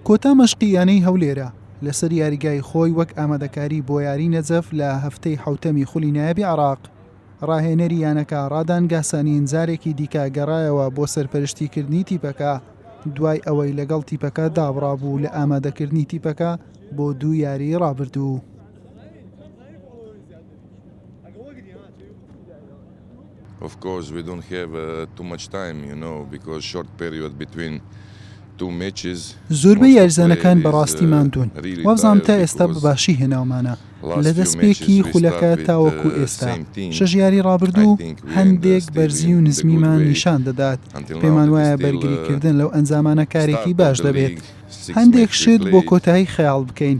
کۆتا مەشقی یانەی هەولێرە لەسەر یاریگای خۆی وەک ئامادەکاری بۆ یاری نەجەف لە هەفتەی حوتەمی خولی نایبی عراق ڕاهێنەری یانەکە ڕادان گاسانین جارێکی دیکە گەڕایەوە بۆ سەرپەرشتی کردنی تیپەکە دوای ئەوەی لەگەڵ تیپەکە دابڕابوو لە ئامادەکردنی تیپەکە بۆ دوو یاری ڕابردوو. Of course we don't have too much time you know because short period between two matches. زۆربەی یاریزانەکان بەڕاستی ماندوون وابزانم تا ئێستا بەباشی هێناومانە لە دەستپێکی خولەکە تاوەکو ئێستا شەژ یاری ڕابردوو هەندێک بەرزی و نزمیمان نیشان دەدات پێمان وایە بەرگریکردن لەو ئەنجامانە کارێکی باش دەبێت هەندێک شت بۆ کۆتایی خەیاڵ بکەین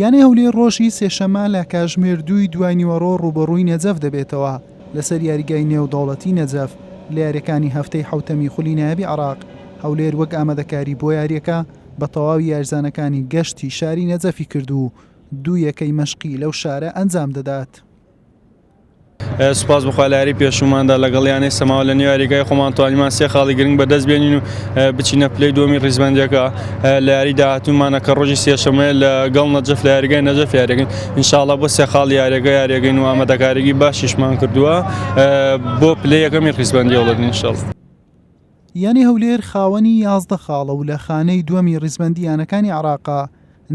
یانەی هەولێر ڕۆژی سێشەممە لە کاژمێر دووی دواینیوەڕۆ ڕووبەڕووی نەجەف دەبێتەوە لەسەر یاریگای نێودەوڵەتی نەجەف لە یارییەکانی هەفتەی حەوتەمی خولی نایابی عێراق، هەولێر وەک ئامادەکاری بۆ یارییەکە بە تەواوی یاریزانەکانی گەشتی شاری نەجەفی کرد و دوو یەکەی مەشقی لەو شارە ئەنجامدەدات. سوپاس بەخوا لە یاری پێشووماندا لەگەڵ یانەی سەماوە لە نێو یاریگای خۆمان توانیمان سێ خاڵی گرنگ بەدەست بێنین و بچینە پلەی دووەمی ڕیزبەندیەکە لە یاری داهاتوومانە کە ڕۆژی سێشەمەیە لە گەڵ نەجەف لە یاریگای نەجەف یاریگەین انشاءاللە بۆ سێ خاڵ یاریگە یاریگەین و ئامادەکاریی باشیشمان کردووە بۆ پلەی یەکەمی ڕیزبەندی هەوڵەدن انشاءاللە. یانەی هەولێر خاوەنی یازدە خاڵە و لە خانەی دووەمی ڕیزبەندی یانەکانی عێراقە،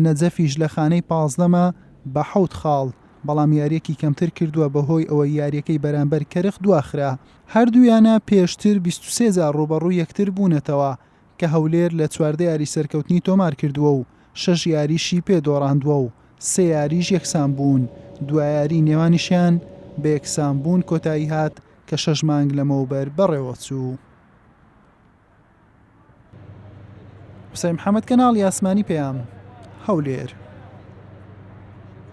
نەجەفیش لە خانەی پازدەمە بە حەوت خاڵ، بەڵام یارییەکی کەمتر کردووە بەهۆی ئەوەی یارییەکەی بەرامبەر کەرخ دواخرا، هەردوو یانە پێشتر بیست و سێ جار رووبەڕووی یەکتر بوونەتەوە، کە هەولێر لە چواردە یاری سەرکەوتنی تۆمارکردووە و شەش یاریشی پێ دۆڕاندووە و سێ یاریش یەکسانبوون، دوایاریی نێوانیشیان بە یەکسانبوون کۆتاییهات کە شەش مانگ لەمەوبەر بەڕێوەچوو. قوسای محەمەد، کەناڵی ئاسمانی پەیام، هەولێر.